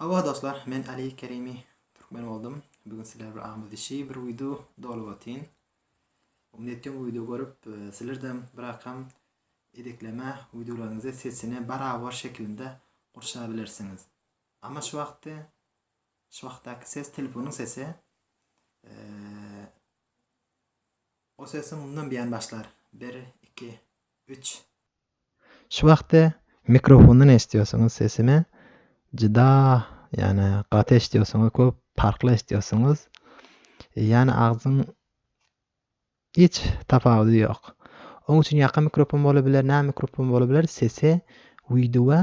Hawa dostlar men Ali Kerimi Türkmen boldum bu gün sizler bir agmyz dişi bir wideo dolup otyn umyt etýän wideo görüp sizlerden bir akam edekleme wideolaryňyzy sesine barabar şekilinde gurşap bilersiňiz ama şu wagtda şu wagtdaky ses telefonyň sesi o sesi mundan biýan başlar 1 2 3 Şu wagty mikrofondan eşdýosuňyz sesini juda ýane gaty eşdýosuňyz köp parkly eşdýosuňyz ýane agzyň hiç tapawudy ýok oň üçin ýaka mikrofon bola biler nä mikrofon bola biler sesi wideoa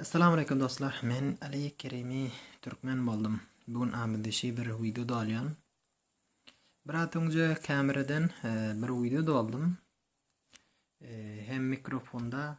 Assalamu aleykum dostlar. Men Ali Kerimi türkmen boldum. Bu gün amidişi bir video dolýan. Bir at öňje kameradan e, bir video doldum. E, hem mikrofonda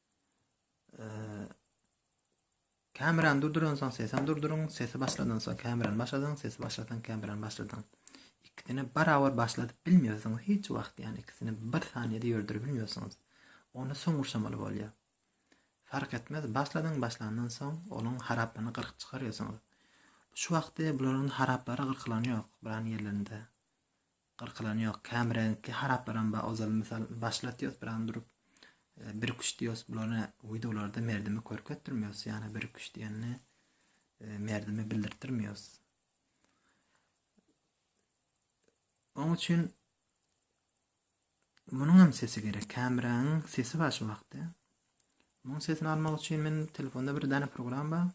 Kamerany durduransoň sesem durduryň, sesi başladansoň kamerany başladyň, sesi başlasaň kamerany başladyň. Ikisini barabar başladyp bilmiyorsunuz hiç wagt yani ikisini bir saniyede yördürüp bilmiyorsunuz. Onu son ursamalı bolýar. Fark etmez başladyň başlandan soň onun haraplaryny gyrk çykarýarsyňyz. Şu wagtda bularyň haraplary gyrkylan ýok bulan ýerlerinde. Gyrkylan ýok. Käm reňkli haraplarym ba ozal mysal başlatýos biram durup bir küşt diýos bulana wideolarda merdimi körketdirmiýos ýana bir küşt diýende merdimi bildirtdirmiýos. Oň üçin munuň hem sesi gerek. Kämräň sesi bar şu wagtda. Munuň sesini almak üçin men telefonda bir dana program bar.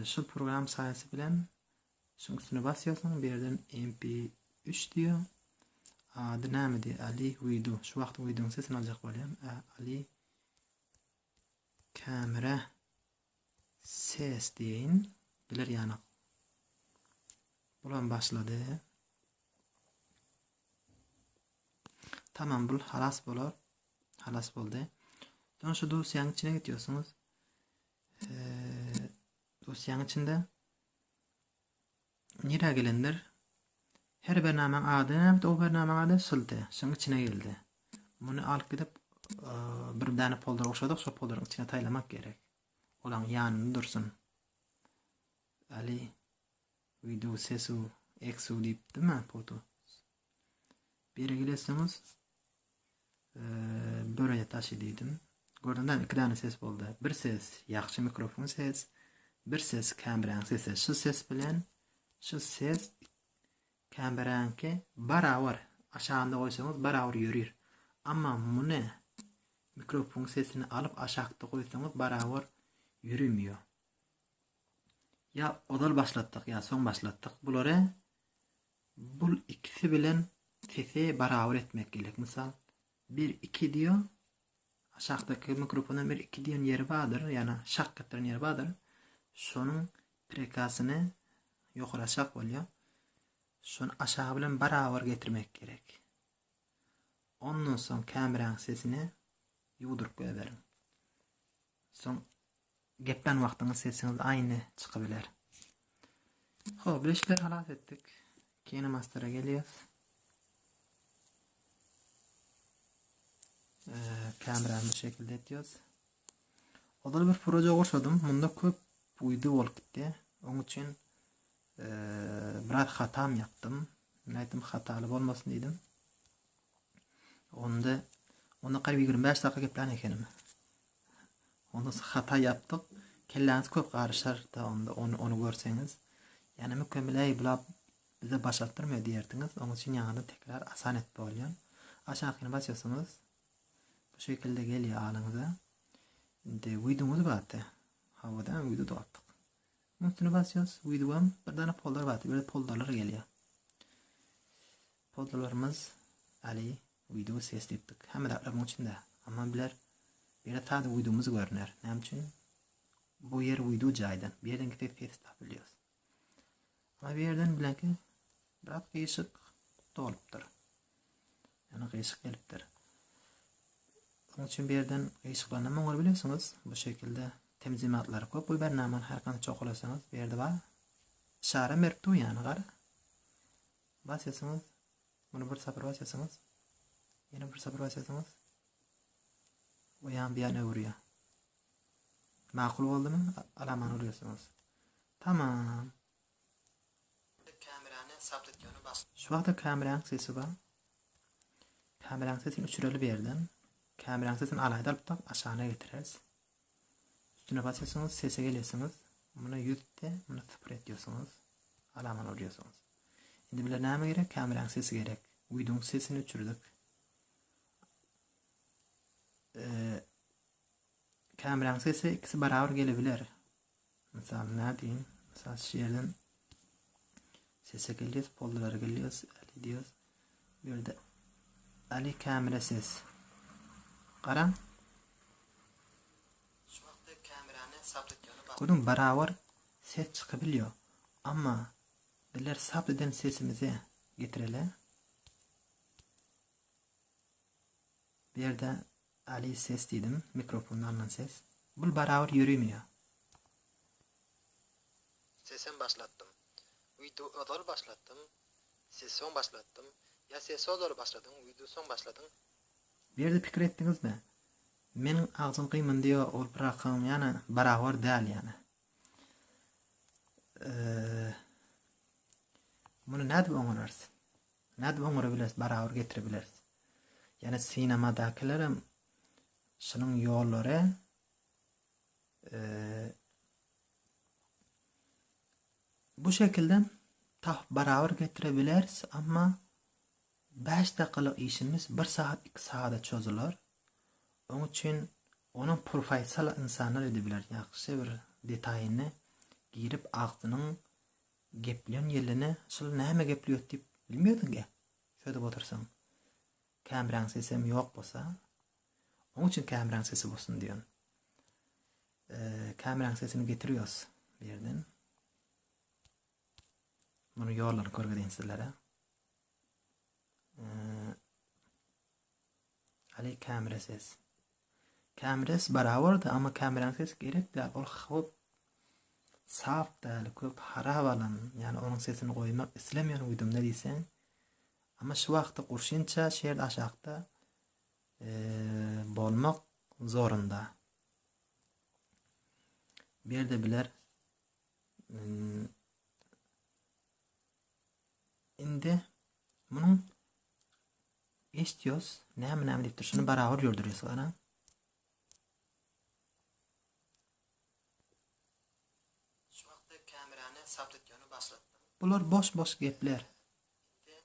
Şu program saýasy bilen Şoň üstüne basýarsyň, bu ýerden MP üç diýýär. Ady näme diýýär? Ali Widu. Şu wagtyň wideoň sesini aljak bolýan. Ä, Ali kamera ses diýeýin. Biler ýanyk. Bulam başlady. Tamam, bul halas bolar. Halas boldy. Soň şu dosýanyň içine geçýärsiňiz. Eee, dosýanyň içinde Nirä gelendir? Her bir namaň ady näbit o bir namaň ady şylty. Şuň içine geldi. Muny alyp gidip bir däne poldara oşadyk şo poldaryň içine taýlamak gerek. Olaň ýanynda dursun. Ali video sesu eksu diýip dima foto. Biri geleseňiz börüne taşy diýdim. Gördüňizmi iki dana ses boldy. Bir ses ýagşy mikrofon ses, bir ses kameranyň sesi. Şu ses bilen şu ses kameranyňky barabar. Aşagynda goýsaňyz barabar ýörir. Amma muny mikrofon sesini alyp aşakda goýsaňyz barabar ýöremýär. Ýa ozal başlatdyk ýa soň başlatdyk bulary. Bul ikisi bilen sesi barabar etmek gerek. Mysal, bir iki diýo, aşakdaky mikrofondan bir iki diýen ýeri bardyr, ýana şak etdiren ýeri bardyr. Şonuň prekasyny ýokary aşak bolýar. Şony aşagy bilen barabar getirmek gerek. Ondan soň kameräň sesini ýuwduryp goýberiň. Soň geplen wagtyňyz sesiňiz aýny çykybiler. Ho, bileşikleri halas etdik. Kine mastera gelýäs. Kamerany bu şekilde etýäs. Ozal bir proje goşadym. Munda köp uydu bolup gitdi. Oň üçin biraz hatam ýapdym. Nätdim hataly bolmasyn diýdim. Onda onda garyp 25 dakika geplän ekenim. Onda hata yapdyk. Kelläňiz köp garyşar da onda onu onu görseňiz. Yani mükemmeley bulap bize başartdyrma diýerdiňiz. Onuň üçin ýaňyny tekrar asan et bolýan. Aşakyny basýarsyňyz. Bu şekilde gelýär alyňyza. Indi wideoňyz bardy. Hawada wideo dogapdyk. Üstüne basýarys, wideom bir dana folder bardy. Böyle folderler gelýär. Hojalarymyz Ali wideo ses diýipdik. Hemme zatlar muň içinde. Amma biler bire sada wideomyz görüner. Näme üçin? Bu ýer wideo jaýdan. Bu ýerden gitip ses tapylýar. Amma bu ýerden bilenki biraz gyşyk dolupdyr. Yani gyşyk gelipdir. Onun için bir yerden ışıklarına mı olabiliyorsunuz? Bu şekilde temiz imatları koyup bu bernamın her kanı çok olasanız bir yerde var. Şara merip yani gar. Basýarsyňyz, muny bir sapar basýarsyňyz, ýene bir sapar basýarsyňyz we ýan bu ýana öwürýär. Makul boldumy? Alamany urýarsyňyz. Tamam. Kamerany sabt etýäni bas. Şu wagtda kameranyň sesi bar. Kameranyň sesini öçüreli bir ýerden. Kameranyň sesini alaýda alyp tak aşagyna getireris. Üstüne basýarsyňyz sese gelýärsiňiz muna ýüz de muna sypyr etýärsiňiz alaman urýarsyňyz indi bile näme gerek kameran sesi gerek widoň sesini öçürdik kameran sesi ikisi barabar gelebiler Mysal nädeýin? Mysal şu ýerden sese gelýäs, pollara gelýäs, Ali diýýäs. Bu ýerde Ali kamera ses. Garaň. Şu wagtda kamerany sabt etýäni bak. Görüň, barabar ses çykybilýär. Amma bizler sabt eden sesimizi getireli. Bu ýerde Ali ses diýdim, mikrofonda alnan ses. Bul barabar ýörümi ýa? Sesem başlatdym. Wideo ozal başlatdym, ses soň başlatdym. Ýa sesi ozal başladyň, wideo soň başladyň? Bu ýerde pikir etdiňizmi? Meniň agzym gymyndy ýa ol birakyň ýana barabar däl ýana. Muny nädip oňararys? Nädip oňarybileris, barabar getiribileris? Ýöne sinemadakylarem şunuň ýollary bu şekilde tapyp barabar getirebileris, amma bäş dakikalyk işimiz bir sagat, iki sagada çozular. Oň üçin onuň professional insanlar edebiler. Ýagşy bir detaýyny girip agzynyň Gepleýän ýerlerine şul näme gepleýot diýip bilmeýärdiň-ä, çözüp otyrsyň. Kämräň sesem ýok bolsa, oň üçin kämräň sesi bolsun diýen. Kämräň sesini getirýos bu ýerden. Muny ýollary görgezeýin sizlere. Aly kämire ses. Kämires barabarda amma kämiräň sesi gerek däl ol howp sap däl köp harap alan ýani onuň sesini goýmak islemeýän uýdumda diýseň amma şu wagtda gurşinça şerd aşakda bolmak zorunda. Bu ýerde biler indi munuň Eştios näme näme diýipdir şuny barabar ýördürýäs garaň. Şu wagtda kamerany saptitýony başlatdym. Bular boş boş gepler. Indi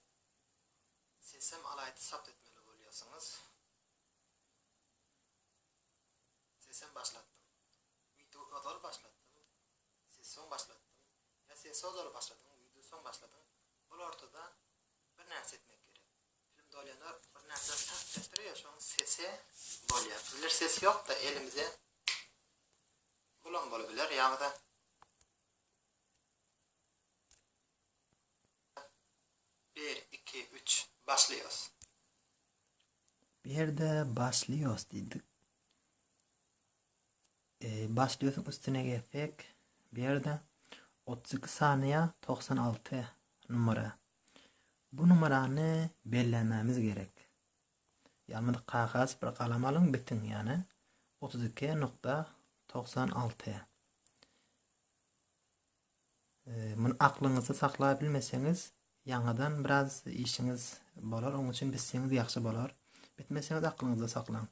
sesem alaýdy sapt etmeli bolýarsyňyz. Sesem başlatdym. Wideo ozal başlatdym. Ses soň başlatdym. Ya ses ozal başladyň, wideo soň başladyň. Ol ortada bir närse etmek gerek. Film dolýanda bir närse tak diýip durýar, şonuň sesi bolýar. Bizler ses ýok-da elimize bulam bolup biler ýa-da bir, iki, üç, başlaýos. Bu ýerde başlaýos diýdik. Başda ösüň üstüne gezsek, bu ýerde otuz iki sanyýa togsan alty numara. Bu numarany bellämämiz gerek. Ýalnz kagas bir galam alyň bitiň ýane otuz iki nukta togsan alty. Muny aklyňyzda saklap bilmeseňiz, ýaňadan biraz işiňiz bolar, oň üçin bitseňiz ýagşy bolar. Bitmeseňiz aklyňyzda saklaň.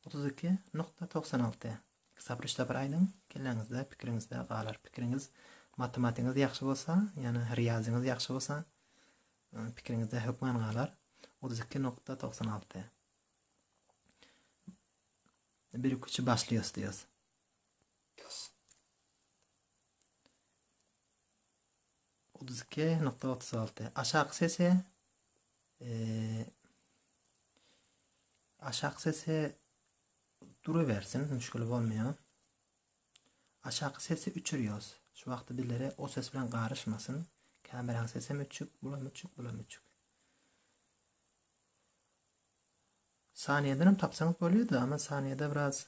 Otuz iki nukta togsan alty. Iki sapar, üç sapar aýdyň, kelläňizde, pikiriňizde galar. Pikiriňiz, matematigiňiz ýagşy bolsa, ýani riýazyňyz ýagşy bolsa, pikiriňizde hökman galar. Otuz iki nukta togsan alty. Bir iki üçi başlaýas diýýäs. Otuz iki nokta otuz alty. Aşak sesi aşak sesi duruversin, müşkili bolmaýar. Aşak sesi üçürýos. Şu wagty bizlere o ses bilen garyşmasyn. Kameraň sesem üçük, bulam üçük, bulam üçük. Saniyeden hem tapsaňyz bolýar-da, ama saniyede biraz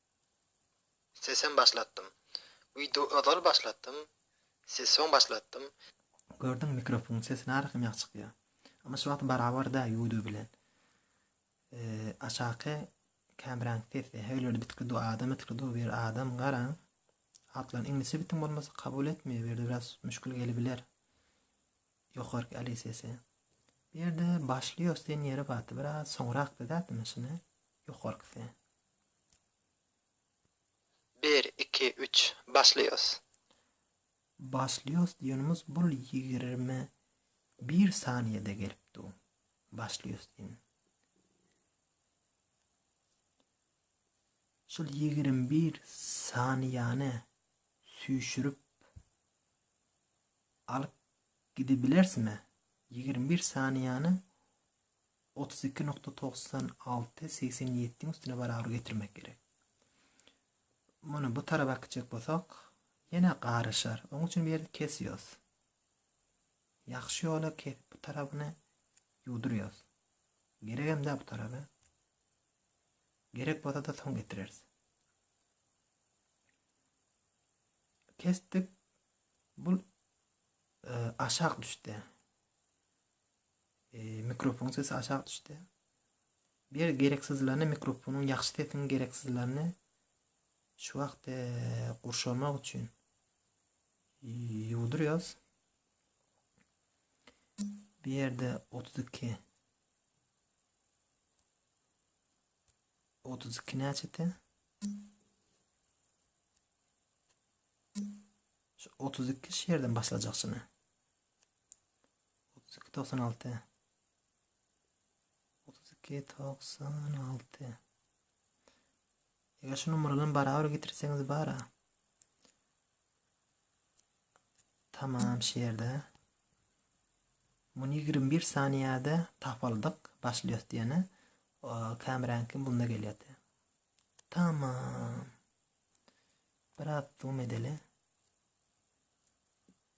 Sesem başlatdym. Wideo ozal başlatdym. Ses soň başlatdym. Gördüňmi mikrofonyň sesi narasam ýagty çykýar. Amma şu wagt barabar däl youtube bilen. Aşaky kameranyň sesi heglerde bitgi du adam etgi du bir adam garaň. Atlaryny iňlisçe bitiň bolmasa kabul etmeýär bu ýerde biraz müşkil gelibiler. Ýokarky ali sesi. Bu ýerde başlaýos diýen ýeri bardy biraz soňrak dädimi şuny ýokarkysy. Bir iki üç başlaýas. Başlaýas diýenimiz bul ýigirmi bir saniýede gelip du başlaýas diýen. Şul ýigirmi bir saniýany süýşürip alyp gidibilersmi? Ýigirmi bir saniýany otuz iki nokta togsan alty segsen ýediň üstüne barabar getirmek gerek. Muny bu tarapa gitjek bolsak, ýene garyşar. Oň üçin bu ýerde kesýos. Ýagşy ýola kesip bu tarapyny ýuwdurýos. Gerek hem bu tarapy. Gerek bolsa-da soň getireris. Kesdik. Bu e, aşak düşdi. Eee mikrofonyň sesi aşak düşdi. Bir gereksizlerini mikrofonyň ýagşy sesiň gereksizlerini şu wagt eee, gurşamak üçin eee, ýuwdurýas. Bu ýerde 32 32 näçede? Şu 32 şu ýerden başlajak şuna. Otuz iki togsan alty. Otuz iki togsan alty. Eger şu numaradan barabar getirseňiz bara. Tamam şu ýerde. Muny 21 saniyede tapaldyk başlýos diýeni. Kameranki bunda gelýärdi. Tamam. Biraz zoom edeli.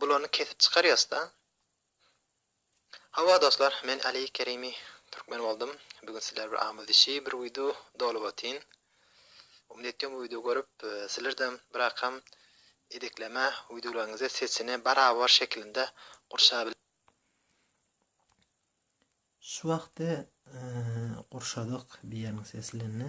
Bulany kesip çykarýasda. Hawa dostlar men Ali Kerimi Türkmen boldum bugün sizler bir amuz işi bir wideo dolup otyn umyt etýom bu wideo görüp sizlerdem birakam edekleme wideolaryňyzy sesini barabar şekilinde gurşap Şu wagty gurşadyk bir ýerini seslendi.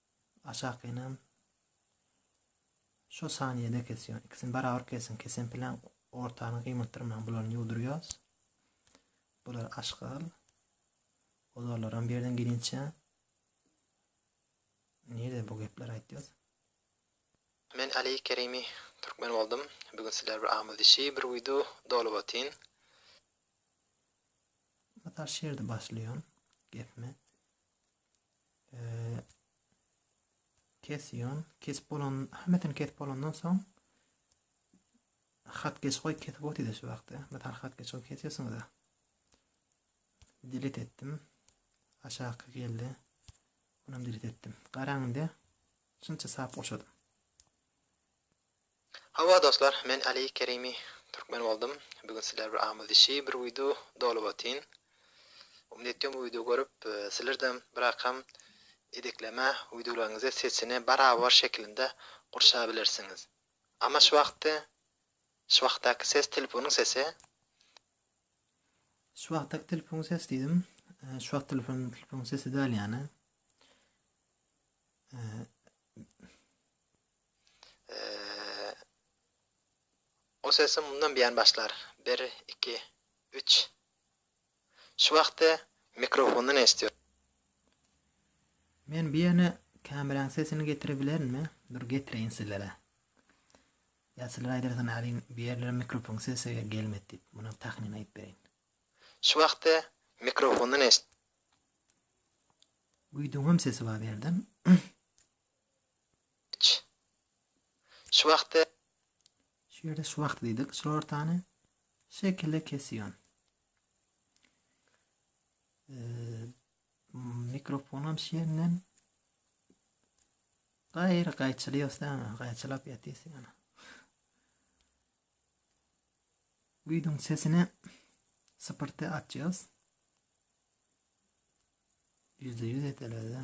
Aşakynam şo sanyýede kesýän. Ikisini barabar kesiň. Kesen plan ortany gymyldyrmaň. Bularyny ýuwdurýas. Bular aşgal. Ozarlaram bir ýerden gelinçe. Nirde bu gepler aýtýas? Men Ali Kerimi Türkmen boldum. Bugün sizler bir agmyz dişi bir video dolup otyn. Mysal şerde başlaýan gepmi? Kesiýan, kesip bolan, hemmesini kesip bolandan soň hat geç goýup kesip otýyz şu wagtda. Metal hat geç goýup kesýärsiňiz. Dilit etdim. Aşaky geldi. Onam dilit etdim. Garaňda şunça sap goşadym. Hawa dostlar men Ali Kerimi Türkmen boldum bu gün sizler bir amuz işi bir wido dolup otyn umyt etýom bu wido görüp sizlerdem birakam edekleme widolaryňyzy sesini barabar şekilinde gurşap bilersiňiz ama şu wagtky şu wagtdaky ses telefonyň sesi Şu wagtdaky telefonyň sesi diýdim şu wagt telefonyň telefonyň sesi däl ýany O sesi mundan biýan başlar. Bir, iki, üç. Şu wagty mikrofondan eşidýär. Men biýene kameran sesini getirebilerin-mi? Dur getireýin sizlere. Ýa sizler aýdarsyňyz aýryň bu ýerlere mikrofon sesi gelmedi diýip. Muny tahmyn aýyp bereýin. Şu wagty mikrofondan eşidýär. Güýdüňem sesi bar bu ýerde. Iç. Şu wagty. Şu ýerde şu wagty diýdik. Şu ortany şekile kesýän. Mikrofonam şu ýerinden gaýry gaýçylyýas dämi? Gaýçylap ýatýas ýaly. Güýzüň sesini sypyrty açýas. Ýüzde ýüz edeler-de.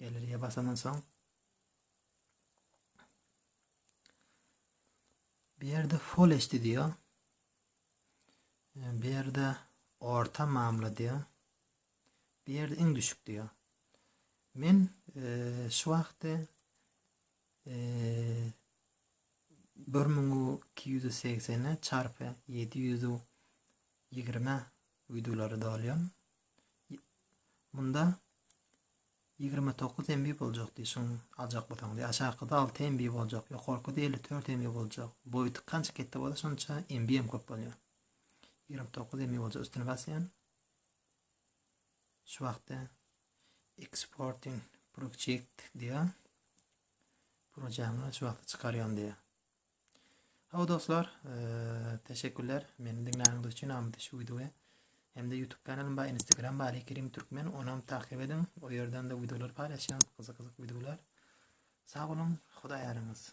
Galeriýa basandan soň bu ýerde Full HD diýýär. Bu ýerde orta mamla diýýär. Bu ýerde iň düşük diýýär. Men e, şu wagtda e, 1280 çarpy 720 wideolary dolýan. Munda 29 MB boljak diýip şuň aljak bolsaň diýip. Aşakyda 6 MB boljak, ýokarkyda 54 MB boljak. Boýy kança ketde bolsa şonça MB hem köp bolýar. 29 MB boljak üstüne basýan. Şu wagtda exporting project diýýär. Projaňy şu wagtda çykarýan diýýär. Hawa dostlar, teşekkürler meni diňläniňiz üçin. Amity şu wideoya hem-de YouTube kanalym bar, Instagram bar, Kerim Türkmen, ony hem takip ediň. O ýerden de wideolar paýlaşýan, gyzyk-gyzyk wideolar. Sag boluň, Hudaý ýaryňyz.